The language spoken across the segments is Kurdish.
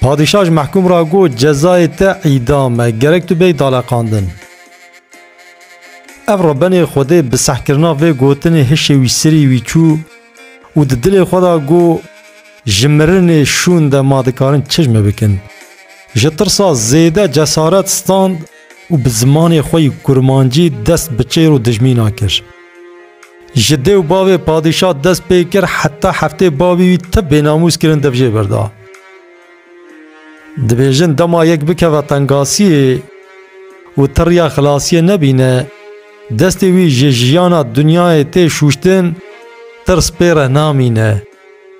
Padîşah ji mehkûm re got, Cezayê te îdam e, gerek tu bêyî daleqandin. Ev re benê Xwedê bi sehkirina vê gotinê hişê wî sirî wî çû û di dilê xwe de got, Ji mirinê şûn de ma dikarin çijme bikin? Ji tirsa zêde cesaret stand. û bi zimanê xwe yî kurmancî dest bi çêr û dijmînan kir. Ji dê û bavê padîşa dest pê kir heta heftê bavî wî ti bênamûs kirin dev jê berda. Dibêjin dema yek bikeve tengasiyê û ti riya xilasiyê nebîne, destê wî ji jiyana dinyayê tê şûştin, tirs pê re namîne.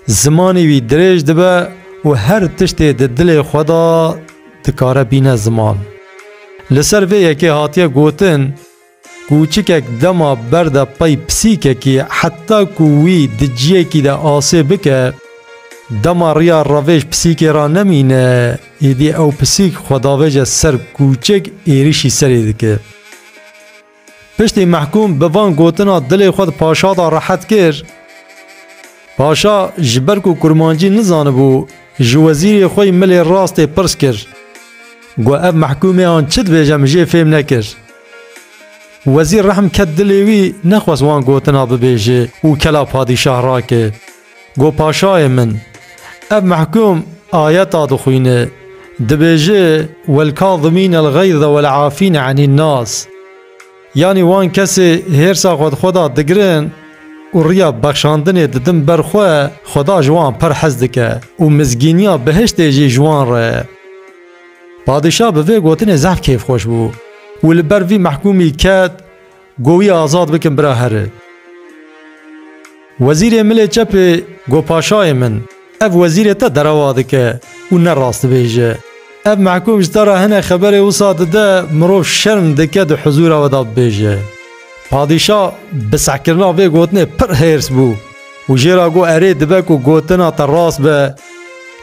Zimanê wî dirêj dibe û her tiştê di dilê xwe de dikare bîne ziman. Li ser vê yekê hatiye gotin, Kûçikek dema berde pey pisîkekî heta ku wî di ciyekî de asê bike, dema riya revêj pisîkê re nemîne, êdî ew pisîk xwe davêje ser kûçik êrişî serê dike. Piştî mehkûm bi van gotina dilê xwe di paşa de rehet kir. Paşa ji ber ku kurmancî nizanibû ji wezîrê xwe yî milê rastê pirs kir. Got ev mehkûmê an çi dibêje min jê fêm nekir. Wezîr rehm ket dilê wî nexwest wan gotina bibêje û kela padîşah rake. Go paşayê min! Ev mehkûm ayeta dixwîne, dibêje, Welkazimîn elxeyze welafîn enîn nas. Yanî wan kesê hêrsa xwe di xwe de digirin û riya bexşandinê didin ber xwe, Xweda ji wan pir hez dike û mizgîniya behiştê jî ji wan re ye. Padîşah bi vê gotinê zehf kêfxweş bû û li ber vî mehkûmî ket, Go wî azad bikin bira here. Wezîrê milê çepê go paşayê min, ev wezîrê te derewa dike û ne rast dibêje. Ev mehkûm ji te re hene xeberê wisa dide mirov şerm dike di huzûra we de bibêje. Padîşa bi sehkirina vê gotinê pir hêrs bû û jê re got erê dibe ku gotina te rast be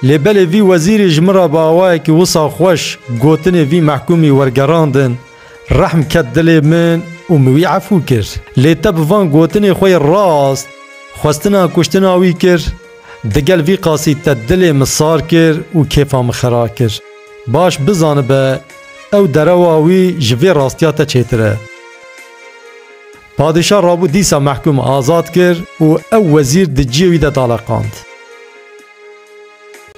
lê belê vî wezîrî ji min re bi awayekî wisa xweş gotinê vî mehkûmî wergerandin. Rehm ket dilê min û min wî efû kir. Lê te bi van gotinê xwe yê rast xwestina kuştina wî kir? Digel vî qasî te dilê min sar kir û kêfa min xera kir. Baş bizanibe ew derewa wî ji vê rastiya te çêtir e. Padîşah rabû dîsa mehkûm azad kir û ew wezîr di ciyê wî de daleqand.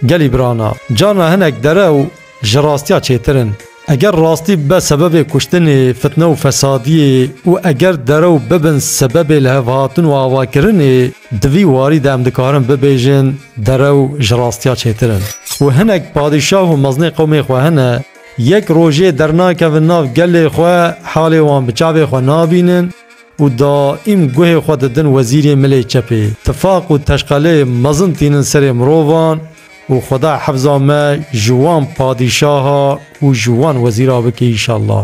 Gelî birana, carna hinek derew ji rastiya çêtir in. Eger rastî bibe sebebê kuştinê, fitne û fesadiyê û eger derew bibin sebebê lihevhatin û avakirinê, di vî warî de em dikarin bibêjin derew ji rastiya çêtir in. Û hinek padîşah û mezinê qewmê xwe hene, yek rojê dernakevin nav gelê xwe, halê wan bi çavê xwe nabînin, û daîm guhê xwe didin wezîrê milê çepê. Tifaq û teşqelê mezin tînin serê mirovan û Xweda hefza me ji wan padîşaha û ji wan wezîra bike îşallah.